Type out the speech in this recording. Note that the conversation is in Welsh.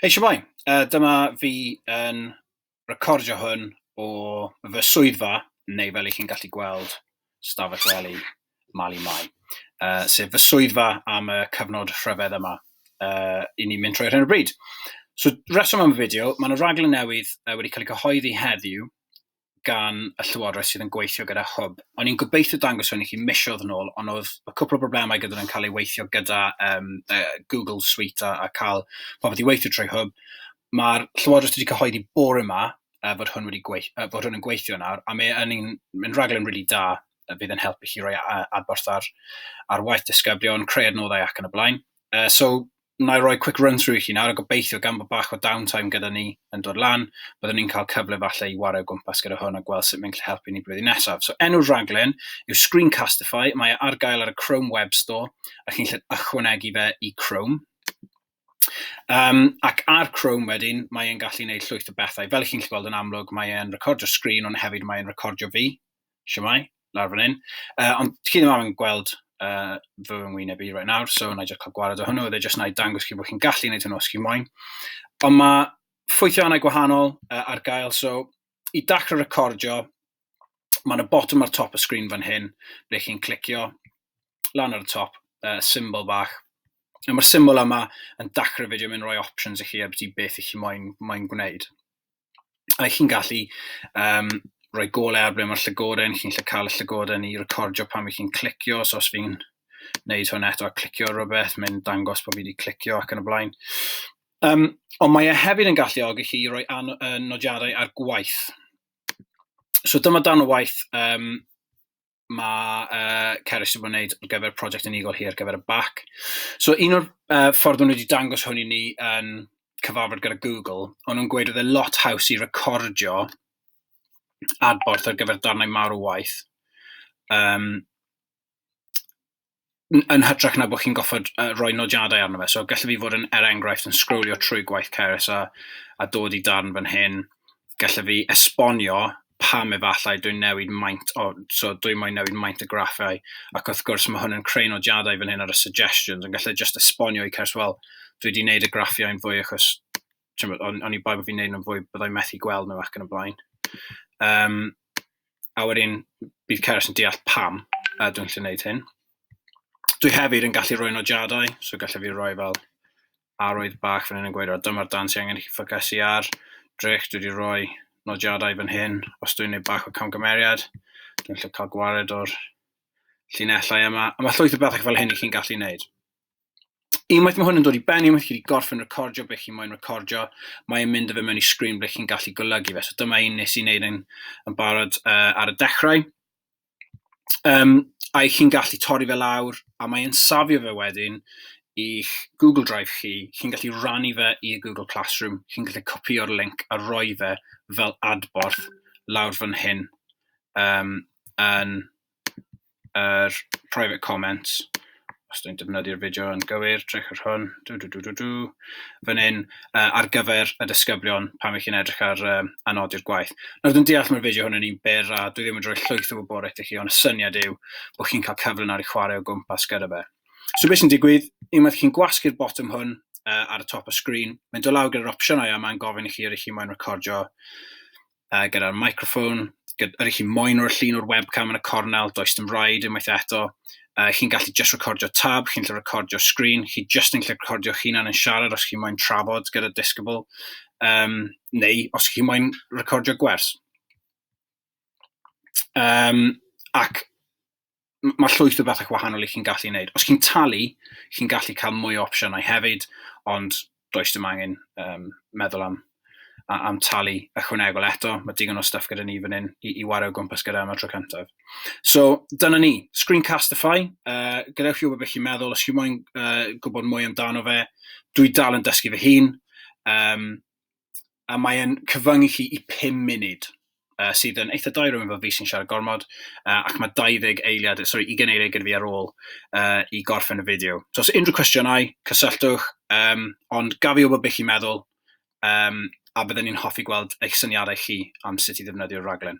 Hei Siamai, uh, dyma fi yn recordio hwn o fy swyddfa, neu fel i chi'n gallu gweld, stafell wely Mali Mai, uh, sef fy swyddfa am y cyfnod rhyfedd yma uh, i ni'n mynd trwy hyn o bryd. So, reswm am y fideo, mae yna raglen newydd uh, wedi cael ei cyhoeddi heddiw, gan y Llywodraeth sydd yn gweithio gyda Hwb. O'n i'n gobeithio dangos hwn i chi misoedd yn ôl, ond oedd y cwpl o broblemau gyda nhw'n cael ei weithio gyda um, uh, Google Suite a, a cael popeth i weithio trwy Hwb. Mae'r Llywodraeth wedi cyhoeddi bore yma uh, fod hwn wedi gweith, uh, fod hwn yn gweithio nawr, a mae yn un, yn rhaglen rili really da uh, fydd yn helpu chi roi adborth ar, ar waith disgyblion, creu adnoddau ac yn y blaen. Yy so wna i roi quick run through i chi nawr a gobeithio gan bod bach o down time gyda ni yn dod lan byddwn ni'n cael cyfle falle i wario gwmpas gyda hwn a gweld sut mae'n gallu helpu ni blwyddyn nesaf. So enw'r rhaglen yw Screencastify, mae e ar gael ar y Chrome Web Store a chi'n gallu ychwanegu fe i Chrome. Um, ac ar Chrome wedyn, mae e'n gallu gwneud llwyth o bethau. Fel chi'n gallu gweld yn amlwg, mae e'n recordio sgrin, ond hefyd mae e'n recordio fi. Shwmae, lawr fan hyn. Uh, ond chi ddim yn gweld uh, fy ngwyneb i right nawr, so na i just cael gwared o hwnnw, oedd e just na i dangos chi bod chi'n gallu gwneud hwnnw os chi'n moyn. Ond mae ffwythiannau gwahanol uh, ar gael, so i dacro recordio, mae'n y bottom ar top y sgrin fan hyn, ble chi'n clicio lan ar y top, uh, symbol bach. A mae'r symbol yma yn dacro fideo, mae'n rhoi options i chi a beth i chi moyn, moyn gwneud. a chi'n gallu um, rhoi gole ar ble mae'r llygoden, chi'n lle cael y llygoden i recordio pan mae chi'n clicio, so os fi'n wneud hwn eto a clicio rhywbeth, mae'n dangos bod fi wedi clicio ac yn y blaen. Um, ond mae e hefyd yn galluogi chi i roi an, uh, nodiadau ar gwaith. So dyma dan o waith um, mae uh, Cerys wedi bod yn gwneud ar gyfer prosiect unigol hi ar gyfer y bac. So un o'r uh, ffordd nhw wedi dangos hwn i ni yn cyfarfod gyda Google, ond nhw'n gweud oedd e lot haws i recordio adborth ar gyfer darnau mawr o waith. Um, n- yn hytrach na bod chi'n goffod uh, rhoi nodiadau arno fe. So gallai fi fod yn, er enghraifft, yn sgrwlio trwy gwaith Ceres a, a dod i darn fan hyn. Gallai fi esbonio pam efallai dwi'n newid maint, o, so dwi moyn newid maint y graffau, ac wrth gwrs mae hwn yn creu nodiadau fan hyn ar y suggestions, yn gallai just esbonio i Ceres, wel, dwi wedi gwneud y graffiau'n fwy achos ch'mod, o'n o'n i'n boi bo' fi'n neud nhw'n fwy, byddai methu gweld nhw ac yn y blaen. Yym, a wedyn bydd Cerys yn deall pam a dwi'n gallu neud hyn. Dwi hefyd yn gallu rhoi nodiadau, so gallai fi roi fel arwydd bach fan hyn yn gweud, o, dyma'r dan sy'n angen i chi ffocysu ar. Drych, dwi wedi rhoi nodiadau fan hyn, os dwi'n neud bach o camgymeriad, dwi'n gallu cael gwared o'r llinellau yma. A mae llwyth o bethau fel hyn i chi'n gallu neud. unwaith mae hwn yn dod i ben, unwaith chi wedi gorffen recordio beth chi'n moyn recordio, mae'n mynd â fe mewn i sgrin ble chi'n gallu golygu fe. So dyma un nes i wneud yn, yn barod uh, ar y dechrau. Um, a i chi'n gallu torri fe lawr, a mae'n safio fe wedyn i'ch Google Drive chi, chi'n gallu rannu fe i Google Classroom, chi'n gallu copio'r link a roi fe fel adborth lawr fan hyn um, yn yr private comments, os dwi'n defnyddio'r fideo yn gywir, edrych ar hwn, dw dw dw dw dw, fan hyn, uh, ar gyfer y disgyblion pan ych chi'n edrych ar um, anodi'r gwaith. Nawr dwi'n deall mae'r fideo hwn yn un byr a dwi ddim yn rhoi llwyth o wybodaeth i chi, ond y syniad yw bod chi'n cael cyfle nawr i chwarae o gwmpas gyda fe. So beth sy'n digwydd, unwaith chi'n gwasgu'r botwm hwn uh, ar y top o sgrin, mae'n dod lawr gyda'r opsiynau a mae'n gofyn i chi ar eich chi moyn recordio uh, gyda'r microphone, gyda, ydych chi moyn o'r llun o'r webcam yn y cornel, does dim rhaid unwaith eto. Uh, chi'n gallu just recordio tab, chi'n gallu recordio screen, chi just yn gallu recordio chi'n yn siarad os chi'n moyn trafod gyda Discable, um, neu os chi'n moyn recordio gwers. Um, ac mae llwyth o bethau gwahanol i chi'n gallu wneud. Os chi'n talu, chi'n gallu cael mwy o opsiynau hefyd, ond does dim angen um, meddwl am, am talu ychwanegol eto. Mae digon o stuff gyda ni fan hyn i, i wario gwmpas gyda am y tro cyntaf. So, dyna ni. Screencastify, uh, gadewch chi wybod beth chi'n meddwl, os chi'n moyn uh, gwybod mwy amdano fe, dwi dal yn dysgu fy hun. Um, a mae e'n cyfyngu chi i 5 munud, uh, sydd yn eitha dau rhywun fel fi sy'n siarad gormod, uh, ac mae 20 eiliad, sorry, 20 eiliad gyda fi ar ôl uh, i gorffen y fideo. So os unrhyw cwestiynau, cysylltwch, um, ond gaf i wybod beth chi'n meddwl, um, a byddwn ni'n hoffi gweld eich syniadau chi am sut i ddefnyddio'r raglen.